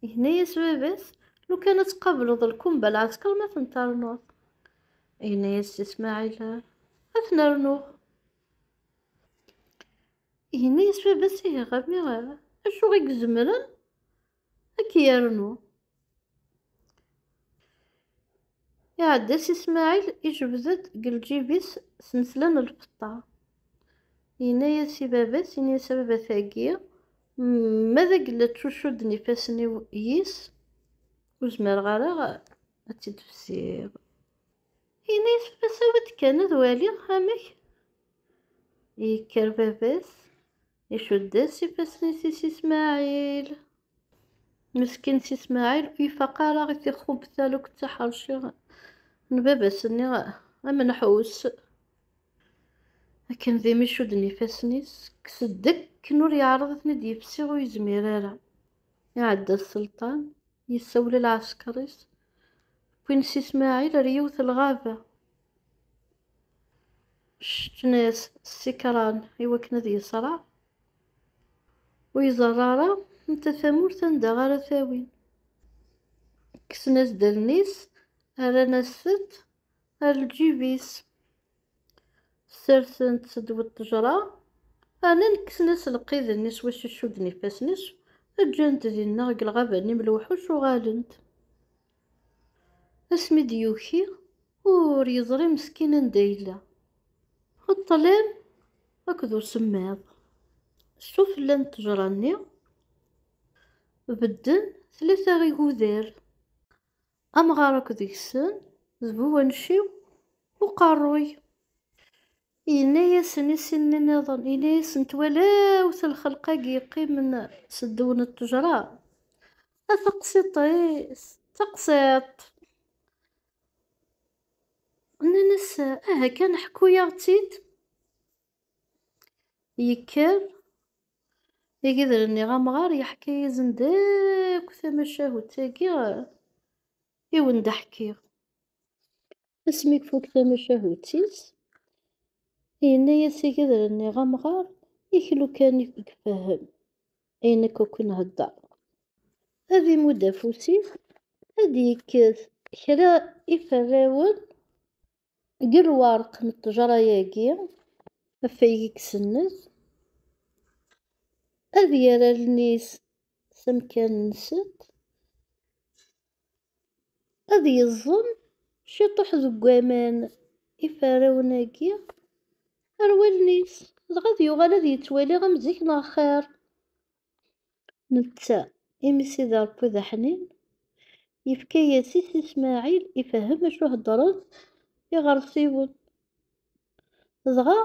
Yenna-yas baba-s, lukan ad tqableḍ lkumba lɛesker ma ten-ternuḍ. Yenna-yas si Smaɛil, ad ten-rnuɣ. Yenna-yas baba-s ihi ɣami acu i izemren ad k-yernu. Iɛedda si Smaɛil, ijbed-d deg lǧib-is snetla n lfeṭṭa. Yenna-yas i baba-s, ini-yas a baba tagi, ma d agella ttucudden ifassen-iw yis, ur zmireɣ ara ad tt-id-fsiɣ. Yenna-yas baba-s awi-d kan ad waliɣ amek. Yekker baba-s, icudd-as ifassen-is i si Smaɛil. Meskin si Smaɛil ur ifaq ara i tixxubt talukt d taḥerci n baba-s-nni amenḥus, akken d imi cudden ifassen-is, kkes-d akken ur yeɛreḍ ad ten-id-yefsi ur yezmir ara. Iɛedda Selṭan, yessawel i lɛesker-is, wwin si Smaɛil ar yiwet n lɣaba, ceččen-as ssikran i wakken ad yeṣreɛ, Ur iẓerra ara netta tamurt anda ara tawin. Kksen-as-d allen-is, rran-as-tent ar lǧib-is. Sersen-tt-ed we ṭṭejra, rnan kksen-as lqid-nni s wacu cudden ifassen-is, ǧǧan-t dinna deg lɣaba-nni mlewḥuc uɣalen-d. Asmi d-yuki, ur yeẓri meskin anda yella. Ṭṭlam akked usemmiḍ. Sufella n ttejra-nni, bedden tlata igudar. Amɣar akk deg-sen d bu wanciw uqerruy. Yenna-yasen i sin-nni nniḍen, yenna-yasen, Twalam-t lxelq-agi yeqqimen s ddew n ṭṭejra, a taqsiṭ-is, taqsiṭ! Nnan-as, Aha kan, ḥku-yaɣ-tt-id! Yekker igider-nni amɣar, yeḥka-yasen-d akk tamacahut-agi i wen-d-ḥkiɣ. Asmi kfuk tamacahut-is, yenna-yas agedren-nni amɣar, ik lukan ik gefhem, ay nekk akk nhedder. Ad imudd afus-is, ad yekket kra iferrawen deg lwerq n ṭṭejra-agi, afayeg i isennet, ad yerr allen-is s amkan-nsent, ad yeẓẓen ciṭuḥ deg waman iferrawen-agi ar wallen-is, dɣa ad yuɣal ad yettwali am zik neɣ xir. Netta, imi Sidi Ṛebbi d aḥnin, yefka-yas-it i Smaɛil ifehhem acu heddren iɣersiwen. dɣa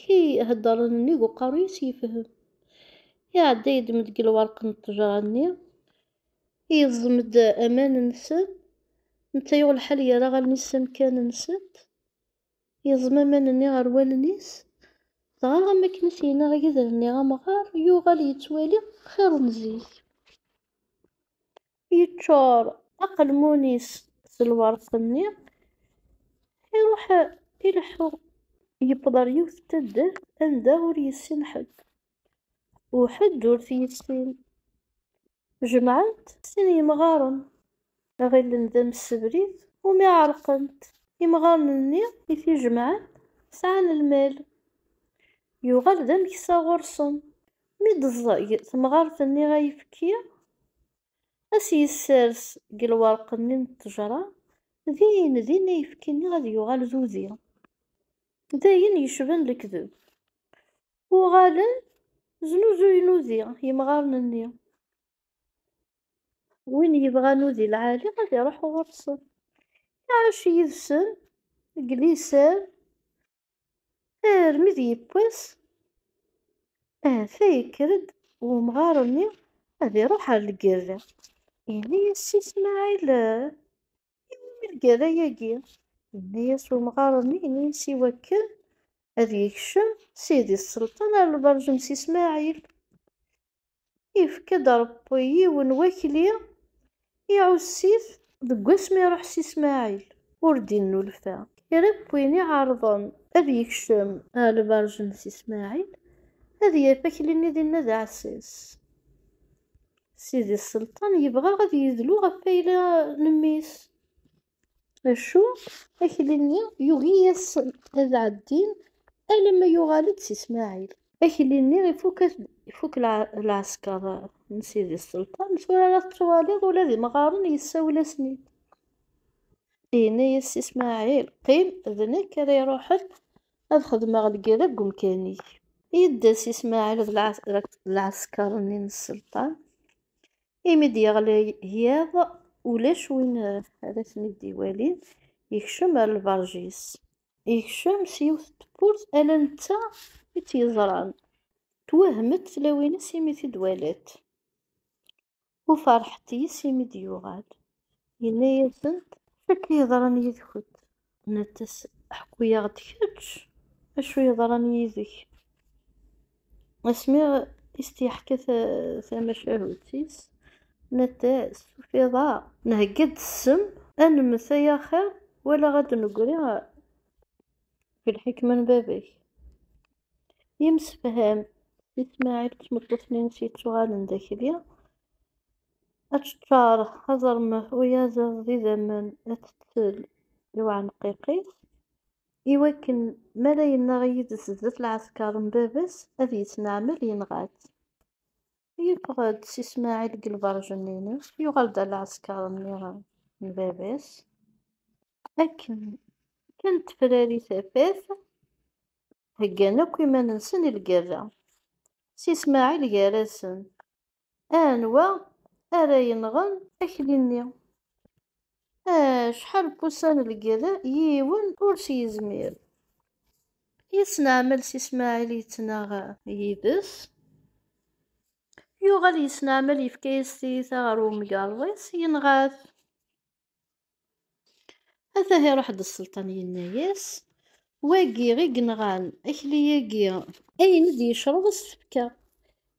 kii heddren nnig uqerru-is yefhem. Iɛedda yeddem-d deg lwerq n ṭṭejra-nni, yeẓẓem-d aman-nsen, netta yuɣ lḥal yerra allen-is s amkan-nsent, yeẓẓem aman-nni ar wallen-is, dɣa am wakken i s-yenna yider-nni amɣar, yuɣal yettwali xir n zik. yeččur aqelmun-is s lweṛt-nni, iruḥ ileḥḥu, yewweḍ ar yiwet n taddart anda ur yessin ḥedd, u ḥedd ur t-yessin. Jemɛen-t sin yemɣaren, ɣilen d amsebrid umi ɛerqent. Imɣaren-nni i t-ijemɛen sɛan lmal. Yuɣal d ameksa ɣur-sen, Mi d-teẓẓeg temɣart-nni ayefki, ad s-yessers deg lwerq-nni n ṭṭejra, din din ayefki-nni ad yuɣal d udi. D ayen yecban lekdeb. Uɣalen znuzuyen udi yemɣaren-nni. Win yebɣan udi lɛali ad iruḥ ɣur-sen, iɛac yid-sen deg liser armi d yiwwas ahata yekker-d wemɣar-nni ad iruḥ ar lgerra. Yenna-yas Si Smaɛil, I wumi lgerra-yagi? Yenna-yas wemɣar-nni, yenna-yas i wakken ad yekcem Sidi Selṭan ar lberǧ n Si Smaɛil. ifka-d Ṛebbi yiwen n wakli i Ɛusit. Deg wasmi iṛuḥ s Ismaɛil, ur d-innulfa. Kra n win iɛeṛḍen ad yekcem. Ɣer lbeṛǧ n Si Smaɛil, ad yaf akli-nni dinna d aɛessas. Sidi Selṭan yebɣa ad yedlu ɣef wayla n mmi-s. Acu, akli-nni yugi-yasen ad ɛeddin alamma yuɣal-d si Smaɛil. Akli-nni ifuk lɛesker n Sidi Selṭan, tura ara tettwaliḍ ula d imɣaren yessawel-asen-id. Yenna-yas si Smaɛil, Qqim, d nekk ara iruḥen ad xedmeɣ lgerra deg umkan-ik. Yedda si Smaɛil d lɛesker-nni n Selṭan, imi d-yeɣli yiḍ ulac win ad asen-id-iwali yekcem ar lberǧ-is. Yekcem s yiwet n tewwurt ala netta i tt-yeẓran, twehmet tlawin-is imi t-id-walat, u ferḥet yis-s imi d-yuɣal, yenna-yasent. Acu akka yeḍran yid-kent? Nettas, ḥku-yaɣ-d kečč acu yeḍran yid-k. Asmi i s-t-yeḥka tamacahut-is, nettas, tufiḍ-aɣ, nhegga-d ssem, ad nemmet ay axir wala ad d-negri deg lḥekma n baba-k. Yemsefham s Smaɛil d tmeṭṭut-nni-ines yettuɣalen d akli, Aččar aẓermef uyaziḍ d idammen atettel i uɛenqiq-is, i wakken mi ara yennaɣ yid-s zdat lɛesker n baba-s ad yettneɛmel yenɣa-t. Yeffeɣ-d si Smaɛil deg lberǧ-nni-ines, yuɣal-d ar lɛesker-nni n baba-s, akken kan tefrari tafat, heggan akk iman-nsen i lgerra. Si Smaɛil gar-asen, Anwa ara yenɣen akli-nni? Acḥal n wussan lgerra, yiwen ur s-yezmir. Yesneɛmel s Ismaɛil yettnaɣ yid-s. Yuɣal yesneɛmel yefka-yas tiyita ɣer wemgerḍ-is, yenɣa-t. Ata iruḥ-d sselṭan yenna-yas, wagi i yenɣan akli-agi. Ayen i d-yecreḍ a s-t-fkeɣ.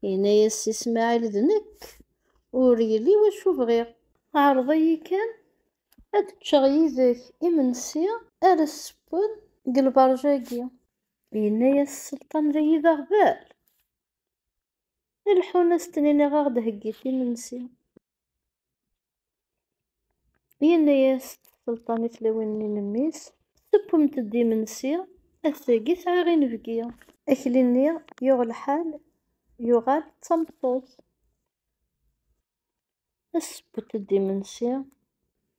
Yenna-yas Si Smaɛil d nekk, ur yelli wacu bɣiɣ. Ɛreḍ-iyi kan ad d-ččeɣ yid-k imensi ara ssewwen deg lberǧ-agi. Yenna-yas sselṭan dayi d aɣbel, ileḥḥun a s-tniniɣ a ɣ-d-heggit imensi. Yenna-yas tselṭanit lawan-nni n mmi-s, Tewwem-d imensi, ass-agi sɛiɣ inebgi. Akli-nni yuɣ lḥal, yuɣal d tameṭṭut. Tesseww-d imensi,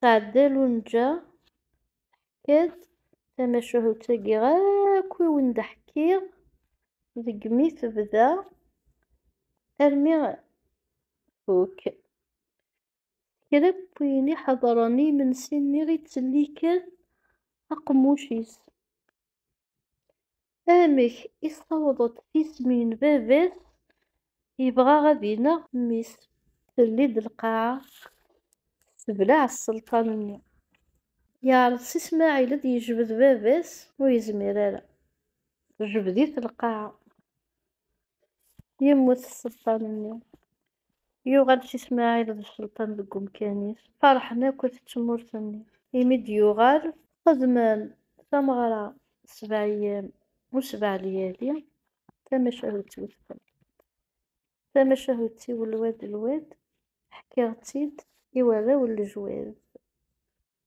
Tɛedda Lunǧa teḥka-d tamacahut-agi akk i wen-d-ḥkiɣ deg mi tebda armi tfuk. Kra n wayen i ḥedṛen i yimensi-nni i ttellike aqemmuc-is. Amek i s-tawḍeḍ tismi n baba-s yebɣa ad ineɣ mmi-s? Telli-d lqaɛa tebleɛ sselṭan-nni. Yeɛreḍ Si Smaɛil ad d-yejbed baba-s, ur yezmir ara. Tejbed-it lqaɛa. Yemmut sselṭan-nni. Yuɣal Si Smaɛil d Sselṭan deg umkan-is, ferḥen akk at tmurt-nni. Imi d-yuɣal, xedmen tameɣra sebɛeyyam u sebɛa lyali, tamacahut i udfel. Tamacahut-iw lwad lwad, ḥkiɣ-tt-id i warraw n lejwad.